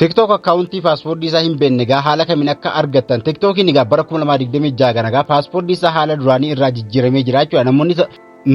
TikTok akkaawuntii paaspoortii isaa hin beekne egaa haala kamiin akka argattan TikTokiin egaa bara 2026 kana egaa paaspoortii isaa haala duraanii irraa jijjiiramee jira jechuudha namoonni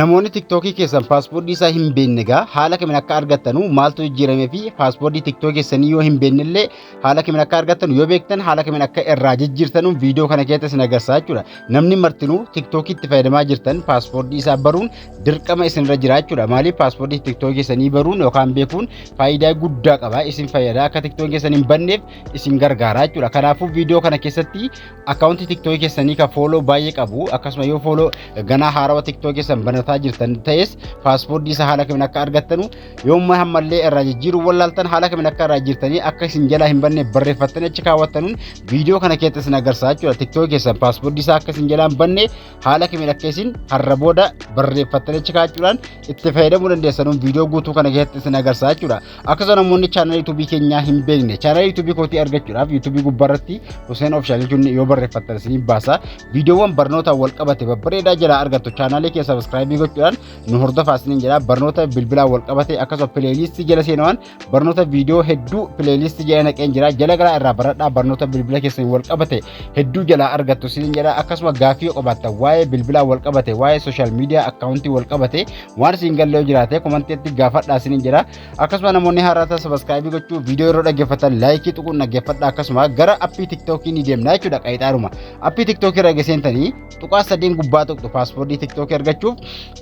namoonni TikTokii keessan paaspoortii isaa hin beekne egaa haala kamiin akka argattanu maaltu jijjiiramee fi paaspoortii TikTokii keessanii yoo hin beekne illee haala kamiin akka argattanu yoo beektan haala kamiin akka irraa jijjiirtanu viidiyoo kana keessatti isin agarsiisa jechuudha namni martinuu TikTokii itti fayyadamaa jirtan paaspoortii isaa baruun dirqama isinirra jiraachuudha. Maaliif paaspoortii tiktookii keessanii baruun yookaan beekuun faayidaa guddaa qaba. Isin fayyada akka tiktookii keessan hin banneef isin gargaara jechuudha. Kanaafuu viidiyoo kana keessatti akkaawuntii tiktookii keessanii kan fooloo baay'ee qabu akkasuma yoo fooloo ganaa haarawa tiktookii keessan banataa jirtan ta'es paaspoortii isa haala kamiin akka argattanu yoomma hammallee irraa jijjiiruu wallaaltan haala kamiin akka irraa jirtanii akka isin jalaa hin banne barreeffattanii achi kaawwattanuun viidiyoo kana keessatti isin agarsiisa jechuudha. Tiktookii keessan paaspoortii isaa akka isin jalaa hin banne haala kamiin akka isin har'a booda barreeffattanii achi kaa'achuudhaan itti fayyadamuu dandeessanuun viidiyoo guutuu kana keessatti isin agarsiisa jechuudha. Akkasuma namoonni chaanala yuutuubii keenyaa hin beekne chaanala yuutuubii kootii argachuudhaaf yuutuubii gubbaarratti Huseen Ofishaal jechuun yoo barreeffattan isin baasa. Viidiyoowwan barnootaan wal qabate babbareedaa jalaa argattu chaanaalee kee sabiskiraayibii gochuudhaan nu hordofaa isiniin jedha. Barnoota bilbilaan wal qabate akkasuma pileeliistii jala seenuudhaan barnoota viidiyoo hedduu pileeliistii jala naqeen jira jala garaa irraa baradhaa barnoota bilbila keessan wal qabate hedduu jalaa argattu siin jedha akkasuma gaaffii yoo qabaattan waa'ee bilbilaa wal qabate waa'ee sooshaal miidiyaa akkaawuntii wal qabate waan siin gallee jiraate komantiitti gaafadhaa siin jedha akkasuma namoonni haaraa ta'an sabaskaayibii gochuu viidiyoo yeroo dhaggeeffatan laayikii tuquun dhaggeeffadha akkasuma gara appii tiktookii ni deemna jechuudha qayxaaruma appii tiktookii irra geseentanii tuqaa sadeen gubbaa tuqxu paaspoortii tiktookii argachuuf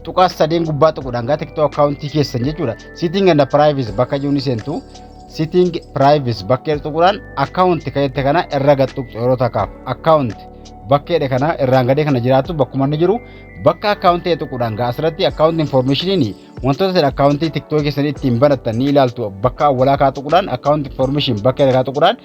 tuqaa sadeen gubbaa tuquudhaan gara tiktoo akkaawuntii keessan jechuudha Sitting and privacy bakka jiru ni seentu. Sitting privacy bakka jedhu tuquudhaan account kan jette kana irra gad tuqxu yeroo takkaaf account bakka jedhe kana irraan gadee kana jiraattu bakkuma inni jiru bakka account ta'e tuquudhaan gaa asirratti account informationiin wantoota isin account tiktok keessanii ittiin banattan ni ilaaltu bakka awwalaa kaa tuquudhaan account information bakka jedhe kaa tuquudhaan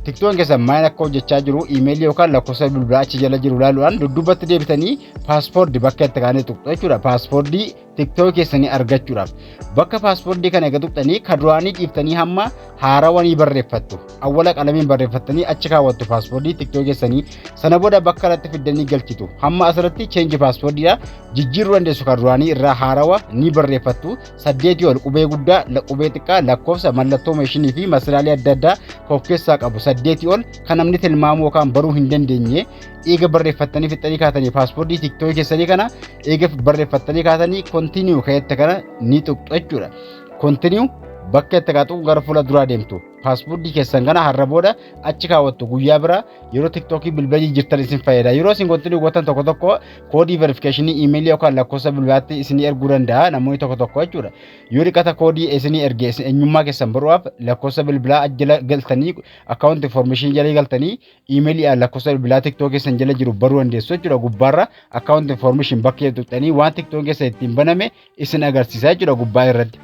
tiktoon keessan maal akka hojjechaa jiru iimeelii yookaan lakkoofsa bilbilaa achi jala jiru ilaaluudhaan dudduubatti deebitanii paaspoordi bakka itti kaanii tuqxu jechuudha paaspoordi tiktok keessanii argachuudhaaf bakka paaspoortii kana eega tuqxanii ka duraanii dhiiftanii hamma haarawanii barreeffattu awwala qalamiin barreeffattanii achi kaawwattu paaspoortii tiktok keessanii sana booda bakka irratti fiddanii galchitu hamma asirratti cheenji paaspoortiidha jijjiiruu dandeessu ka duraanii irraa haarawa ni barreeffattu saddeetii ol qubee guddaa la- qubee xiqqaa lakkoofsa mallattoo meeshinii fi masalaalee adda addaa ka of keessaa qabu saddeetii ol kan namni tilmaamuu yookaan baruu hin dandeenye eega barreeffattanii fixxanii kaatanii paaspoortii tiktooki keessanii kana eega barreeffattanii kaatanii kontiniyu ka'eetta kana ni tuqxu jechuudha. Kontiniyu bakka itti kaatu gara fuula duraa deemtu paaspoortii keessan kana har'a booda achi kaawwattu guyyaa bira yeroo tiktookii bilbila jijjiirtan isin fayyada yeroo isin kontiniyu gootan tokko tokko koodii verifikeeshinii iimeelii yookaan lakkoofsa bilbilaatti isin erguu danda'a namoonni tokko tokko jechuudha yoo dhiqata koodii isin erge isin eenyummaa keessan baru'aaf lakkoofsa bilbilaa jala galtanii akkaawunti information jala galtanii iimeelii a lakkoofsa bilbilaa tiktook keessan jala jiru baruu dandeessu jechuudha gubbaarra akkaawunti information bakka jedhu tuqxanii waan tiktook keessa ittiin baname isin agarsiisa jechuudha gubbaa irratti.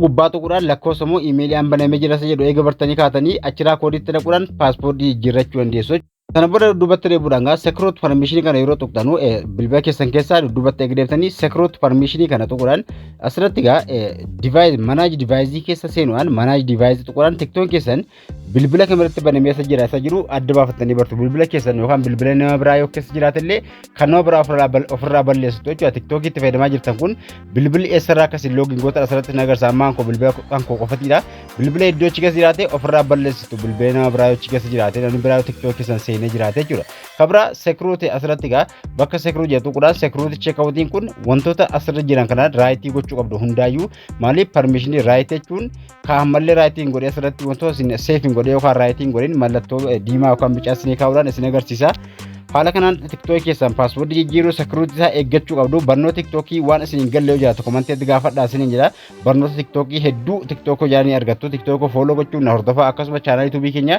gubbaa tuquudhaan lakkoofsa immoo iimeelii an banamee jira isa jedhu eega bartanii kaatanii achiraa koodiitti dhaquudhaan paaspoortii jijjiirrachuu dandeessu. Sana booda dudduubatti deebi'uudhaan gaa sekiroot parmishinii kana yeroo tuqxanu bilbila keessan keessaa dudduubatti eega deebitanii sekiroot parmishinii kana tuquudhaan asirratti gaa divaayiz manaaj divaayizii keessa seenuudhaan manaaj divaayizii tuquudhaan tiktoon keessan bilbila kamirratti banamee isa jira isa jiru adda baafattanii bartu bilbila keessan yookaan bilbila nama biraa yoo keessa jiraatellee kan nama biraa ofirraa bal- ofirraa balleessitu jechuudha tiktookii itti fayyadamaa jirtan kun bilbilli eessarraa akka isin loogiin goota asirratti na agarsiisa ammaan koo bilbila kan koo qofatiidha bilbila iddoo achi keessa jiraate ofirraa balleessitu bilbila nama biraa yoo achi keessa jiraate namni biraa yoo tiktookii keessan seenee jiraate jechuudha kabira sekiruuti asirratti egaa bakka sekiruu jedhu kudhaan sekiruuti cheekawutiin kun wantoota asirra jiran kana raayitii gochuu qabdu hundaayyuu Maaliif parmishinii raayit jechuun kaan mallee raayitii hin godhe asirratti wantoota isin seef hin godhe yookaan raayitii hin godhin mallattoo diimaa yookaan bicaa isinii kaa'uudhaan isin agarsiisa. Haala kanaan tiktookii keessan paaswoordii jijjiiruu sekiruutii isaa eeggachuu qabdu barnoota tiktookii waan isin hin galle yoo jiraatu komanteetti gaafadhaa isin hin jira barnoota tiktookii hedduu tiktookoo jaalanii argattu tiktookoo fooloo gochuun na hordofaa akkasuma chaanaalii tuubii keenya